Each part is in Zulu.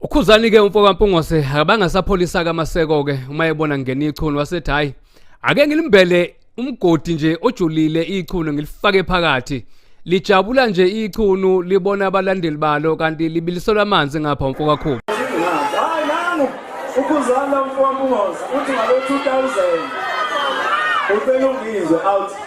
ukhuzani ke umfo kampungose akabanga sapholisa kamaseko ke uma ebona ngena ichunu wasethi hayi ake ngilimbele umgodi nje ojulile ichunu ngilifake phakathi lijabula nje ichunu libona abalandeli balo kanti libiliselwa amanzi ngapha umfo kakhulu hayi nanu ukhuzana umfo kampungose uthi ngalo 2000 ubelungizwe out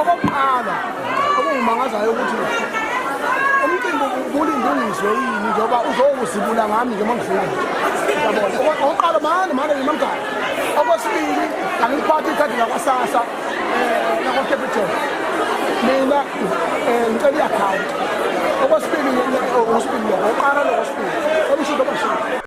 okokuqala okungimangazayo ukuthi umcimbi ubulinde ungizwe yini njengoba uzowuzibula ngami nje uma ngifika okokuqala mane mane ngimamgala okwesibili angiliphathi ikhadi lakwasasa um lakwacapital mina um ngicela i-akhawunti okwesibili okwesibili lokho oqala lokwesibili olushudo abashili